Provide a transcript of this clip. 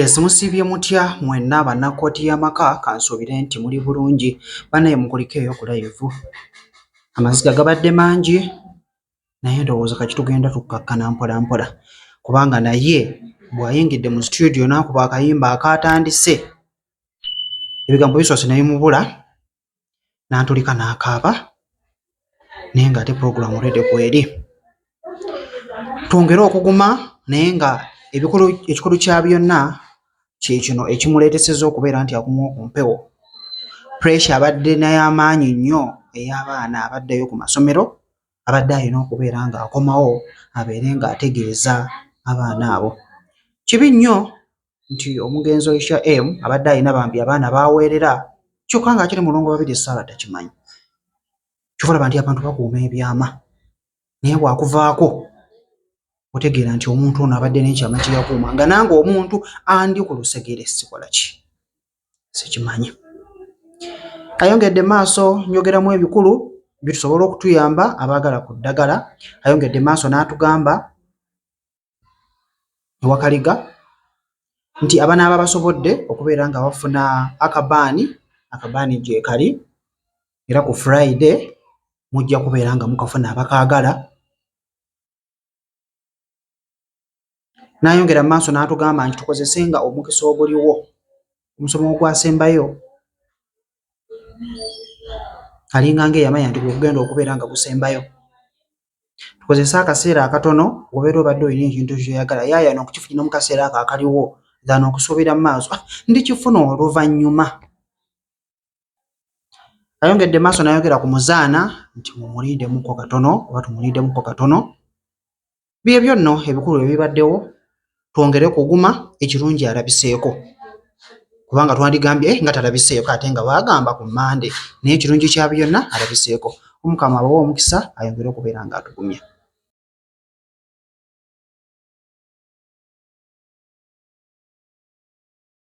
Yes musiibye mutya mwenna banna kkooti y'amaka kansuubire nti muli bulungi banaye mukulikeeyo ku layivu amaziga gabadde mangi naye ndowooza kati tugenda tukkakkana mpola mpola kubanga naye bw'ayingidde mu situdiyo n'akuba akayimba akaatandise ebigambo bisoose naye mubula n'antulika n'akaaba naye ng'ate pulogulaamu redi kweri twongere okuguma naye nga ekikulu kya byonna kyekino ekimuleeteseza okubeera nti aguma ku mpewo puresha abadde nayamaanyi nnyo ey'abaana abaddeyo ku masomero abadde alina okubeera ng'akomawo abeere ng'ategeeza abaana abo kibi nnyo nti omugenzi oisha m abadde alina bambi abaana baweerera kyokka nga akiri mulongo babiri esaala takimanyi kyovalaba nti abantu bakuuma ebyama naye bwakuvaako otegeera nti omuntu ono abadde nekyama kyeyakuuma nga nange omuntu andi ku lusegere sikola ki sikimanyi ayongedde maaso njogeramu ebikulu bitusobola okutuyamba abaagala ku ddagala ayongedde maaso n'atugamba e Wakaliga nti abanaaba basobodde okubeera nga bafuna akabaani, akabaani gyekali era ku Friday mujja kubeera nga mukafuna abakaagala. N'ayongera mu maaso n'atugamba nti tukozesenga omukisa oguliwo omusomo ogwasembayo alinga ng'eyamanya nti gwe gugenda okubeera nga gusembayo. tukozese akaseera akatono obeera obadde olina ekintu kyoyagala yayana okukifuna mu kaseera ako akaliwo than okusuubira mu maaso ah, ndikifuna oluvannyuma ayongedde maaso nayogera ku muzaana nti mumulindemuko katono oba tumulindemuko katono byebyo nno ebikulu ebibaddewo twongere kuguma ekirungi alabiseeko kubanga twandigambye eh, nga talabiseeko ate nga baagamba ku mande naye ekirungi kya byonna alabiseeko omukama abawa omukisa ayongere okubeera nga atugumya